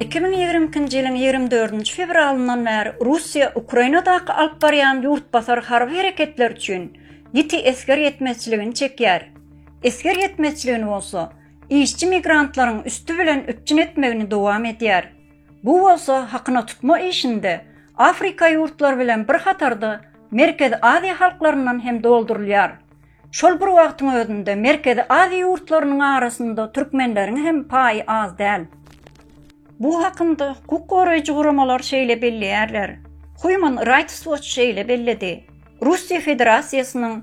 Iki müň ýigrimi ikinji ýylyň ýigrimi dördünji fewralyndan bäri Russiýa Ukrainadaky alyp barýan ýurtbasar harby hereketleri üçin ýiti esger ýetmezçiligini çekýär. Esger ýetmezçiligini bolsa işçi migrantlaryň üsti bilen üpjün etmegini dowam edýär. Bu bolsa hakyna tutma işinde Afrika ýurtlary bilen bir hatarda Merkezi Aziýa halklaryndan hem doldurylýar. Şol bir wagtyň özünde Merkezi Aziýa ýurtlarynyň arasynda türkmenleriň hem paýy az däl. Bu hakynda hukuk goraýjy guramalar şeýle belleýärler, Human Rights Watch şeýle belledi, Russiýa Federasiýasynyň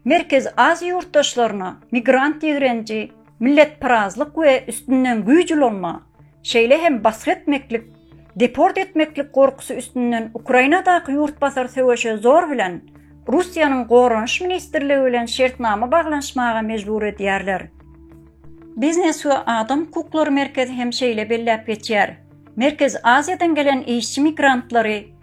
Merkezi Aziýa ýurtdaşlaryna migrant ýigrenji, Milletparazlyk we üstünden güýç ulanma, şeýle hem basgy etmeklik, deport etmeklik gorkusy üstünden Ukrainadaky ýurtbasar söweşe zor bilen Russiýanyň Goranyş ministrligi bilen şertnama baglanyşmaga mejbur edýärler. Biznes we adam hukuklary merkezi hem şeýle belläp geçýär, Merkezi Aziýadan gelen işçi migrantlary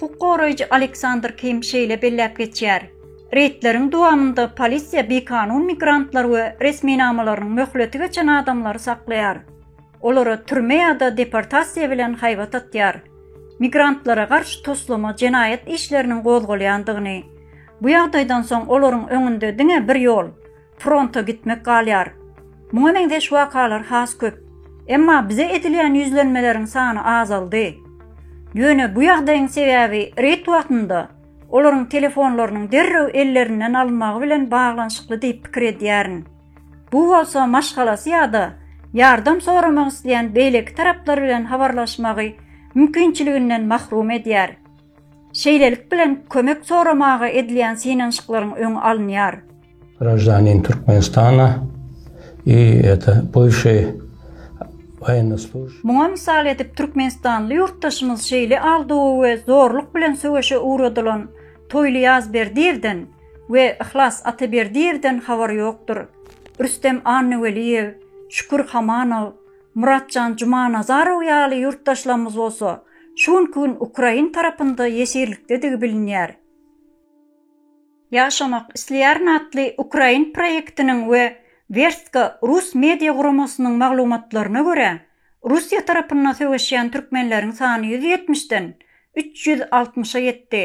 Hukuk goraýjy Aleksandr Kim şeýle belläp geçýär, Reýdleriň dowamynda polisiýa bikanun migrantlar we resminamalarynyň möhleti geçen adamlary saklaýar. Olara türme ýa-da deportasiýa bilen haýbat atýar. Migrantlara garşy toslama jenaýat işleriniň gozgalýandygyny, bu ýagdaýdan soň olaryň öňünde diňe bir ýol, fronta gitmek galýar. Muňa meňzeş wakalar has köp. Emma bize edilýän ýüzlenmeleriň sany azaldy. Ýöne bu ýagdaýyň sebäbi reýd wagtynda olaryň telefonlarynyň derrew ellerinden alynmagy bilen baglanyşykly diýip pikir edýärin. Bu bolsa maşgalasy ýa-da ýardam soramak isleýän beýleki taraplar bilen habarlaşmagy mümkinçiliginden mahrum edýär. Şeýlelik bilen kömek soramaga edilýän synanyşyklaryň öňi alynýar. Graždanin Türkmenistana i eta buvşi waýennoý služb. Muňa mysal edip türkmenistanly ýurtdaşymyz şeýle aldawa we zorluk bilen söweşe ugradylan Toýly Ýazberdiýewden we Yhlas Ataberdiýewden habar ýokdur. Rüstem Annaweliýew, Şükür Hamanow, Muratjan Jumanazarow ýaly ýurtdaşlarymyz bolsa Şu günki gün ukrain tarapynda ýeşirlikdedigi bilinýär. Ýaşamak isleýärin atly ukrain proýektiniň we Werstka rus media guramasynyň maglumatlaryna görä, Russiýa tarapynda söweşýän türkmenleriň sany ýüz ýetmişden üç ýüz altmyşa ýetdi.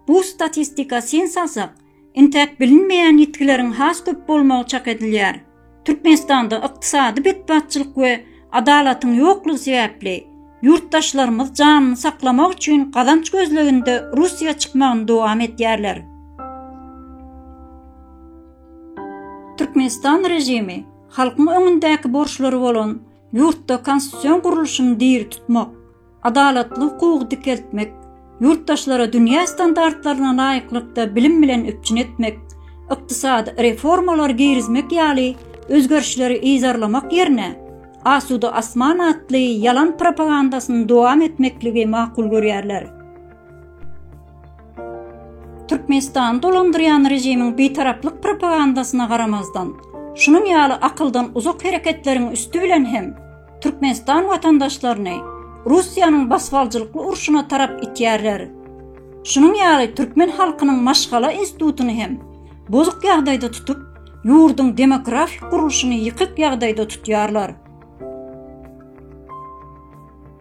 Bu statistika sen salsak, intäk bilinmeýän ýitgileriň has köp bolmagy çak edilýär. Türkmenistanda ykdysady betbatçylyk we adalatyň ýoklugy sebäpli ýurtdaşlarymyz janyny saklamak üçin gazanç gözleginde Russiýa çykmagyny dowam edýärler. Türkmenistan režimi Halkyň öňündäki borçlary bolan ýurtda konstitusion gurluşyny diri tutmak, adalatly hukugy dikeltmek, ýurtdaşlary dünýä standartlaryna laýyklykda bilim bilen üpjün etmek, ykdysady reformalary girizmek ýaly özgerişleri yzarlamak ýerine, Asuda asman atly ýalan propagandasyny dowam etmekligi makul görýärler. Türkmenistany dolandyrýan režimiň bitaraplyk propagandasyna garamazdan, şunuň ýaly akyldan uzak hereketleriň üsti bilen hem Türkmenistan watandaşlaryny Russiýanyň basybaljylykly urşuna tarap itýärler. Şunuň ýaly türkmen halkynyň maşgala institutyny hem bozuk ýagdaýda tutup, ýurduň demografik gurluşyny ýykyk ýagdaýda tutýarlar.